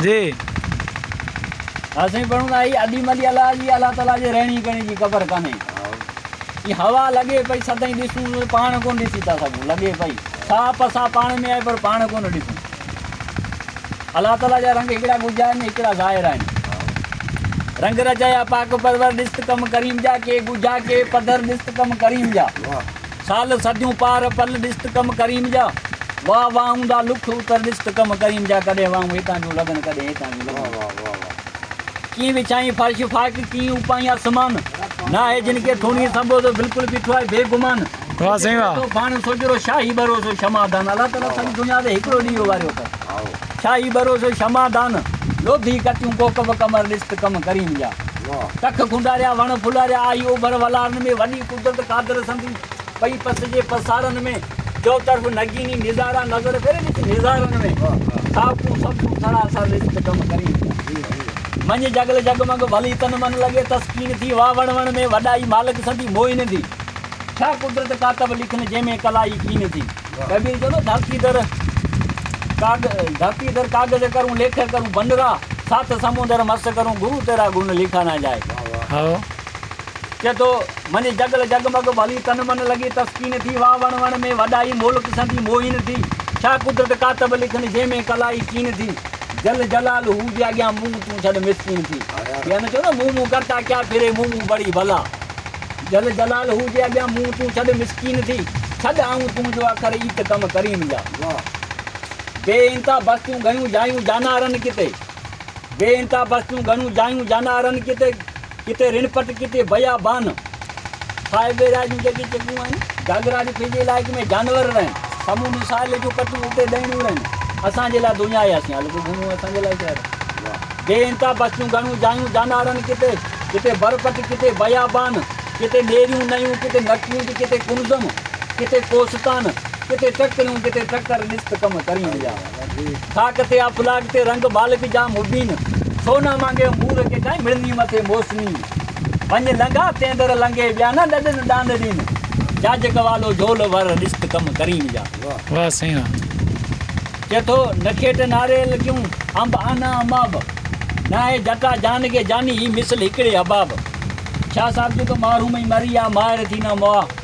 جي ها سائين پڙهون ٿا هي اديم علي الله جي الله تعالي جي رهڻي ڪهڻي جي قبر ڪانهي هي هوا لڳي پئي سدائين ڏسون ته پاڻ ڪونه ڏسي ٿا سگهون لڳي پئي ساهه پساهه پاڻ ۾ آهي پر پاڻ ڪونه ڏسون الله تعالي جا رنگ هڪڙا ڳجها آهن هڪڙا ظاهر آهن رنگ رچايا پاڪ پرور ڏس ته ڪم ڪريم جا ڪي ڳجها ڪي پڌر ڏس ته ڪم ڪريم جا سال صديون پار پل ڏست ڪم ڪريم جا واهه واهه اوندا لک اتر ڏست ڪم ڪريم جا ڪڏهن واهون هتان جون لڳن ڪڏهن هتان جون لڳن ڪيئن وڇائين فرش فائق ڪيئن اپائين آسمان ناهي جن کي ٿوڻي سنبوڌو بلڪل بيٺو آهي بي گمان واهه سائين واهه ٿو ڀاڻ سوجهرو شاهي ڀروسو شمع دان الله تعاليٰ سڄي دنيا تي هڪڙو ڏيئو واريو اٿس شاهي ڀروسو شمع دان لوڌي ڪتيون ڪوڪب قمر ڏست ڪم ڪريم جا ڪک کنڊاريا وڻ ڦلاريا آئي اوڀر ولارن ۾ وڏي قدرت قادر سندي پئي پس جي پسارن ۾، چؤطرف نگيني نظارا نظر ڪري وچ نظارن ۾، ساوڪون سبڪون سڙا سر رت تي ڪم ڪرين پيا، منجهه جڳل جڳمڳ ڀلي تن من لڳي تسڪين ٿي، واھ وڻ وڻ ۾ وڏائي مالڪ سندي موهين ٿي، ڇا قدرت ڪاتب لکن جنهن ۾ ڪلائي ڪين ٿي، ڪبير چوندو ڌرتي در ڌرتي در ڪاغذ ڪرون ليکه ڪرون بنرا، ساٿ سمندر مس ڪرون گرو تيرا گن لکا نه جائي. چئي ٿو، منجهه جڳل جڳمڳ ڀلي تن من لڳي تسڪين ٿي واهه وڻ وڻ ۾ وڏائي مولڪ سندي موهين ٿي ڇا قدرت ڪاتب لکن جنهن ۾ ڪلائي چين ٿي جل جلال هو جي اڳيان منهن تون ڇڏ مسڪين ٿي ڪي نه چئو نه منهن منهن ڪرتا ڪيا ڦري منهن منهن بڙي ڀلا جل جلال هو جي اڳيان منهن تون ڇڏ مسڪين ٿي ڇڏ آئون تون جو اکر ايت ڪم ڪريم جا بي انتها بستيون گهيون جايون جانارن ڪتي. بي انتها بستيون گهڻيون جايون جانا رن ڪتي ڪتي رڻ پٽ ڪتي بيا بان صاحب ويرا جون جڳي چڳون آهن گاگرا جي پنهنجي علائقي ۾ جانور رهن سمون ساحل جون پٽون اتي ڏهڻيون رهن اسان جي لاء دنيا آهي اسين هلڪو گهمون اسان جي لاء شهر بي انتها بستيون گهڻيون جايون جانا رن ڪتي ڪتي بر پٽ ڪتي بيا بان ڪتي نيريون نيون ڪتي نڪونج ڪتي ڪنزم ڪتي ڪوستان ڪتي ٽڪريون ڪتي ٽڪر ڏس ته ڪم ڪرين ويا خاڪ تي آ پلاڳ تي رنگ ٻالڪ جا مبين سونا مانگيو مور کي ڪائين مڙني مٿي موسمي وڃ لنگها تين در لنگهي ٻيا نه ڏڏن ڏاند ڏين جاج ڪوالو جهول ور ڏست ڪم ڪريم جا چئي ٿو نکيٽ ناريل ڪيون انب آنا اماب ناهي جٽا جان کي جاني هي مثل هڪڙي حباب شاهه صاحب جي ته مارون ۾ مري آ ماهر ٿي نه مئا.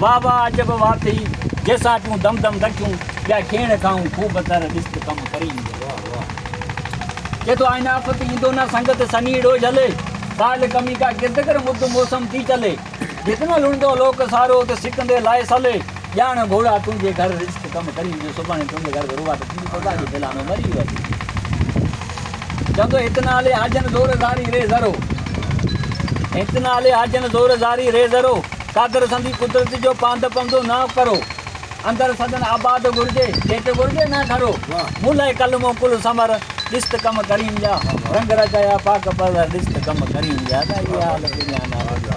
واھ واھ عجب واھ ٿئي جيسان پيون دم دم ڳٺيون ٻيا کيڻ کائون خوب تر ڏست ڪم ڪري ايندو واھ واھ چئي ٿو آئين آفت ايندو نه سنگت سني ڙو جھلي ڪال ڪمي ڪا گرد ڪر مد موسم ٿي چلي جت نه لڻندو لوڪ سارو ات سڪندي لائي سلي ڄاڻ گھوڙا تنھنجي گھر رزق ڪم ڪري ايندو سڀاڻي تنھنجي گھر ۾ روواٽ ٿيندي تو تاجي ڦيلانو مري ويو اڄ چوندو ھت نه ھلي ھاجن زور زاري ري ذرو ھت نه ھلي ھاجن زور زاري ري ذرو. قادر سندي قدرت جو پاند پندو نه پرو اندر سندن آباد گهرجي جيت گهرجي نه گهرو مون لاء ڪلمو ڪل ثمر ڏست ڪم ڪريم جا رنگ رچايا پاڪ پرور ڏست ڪم ڪريم جا ادا اهي حال ڪيڏيان ناز جا.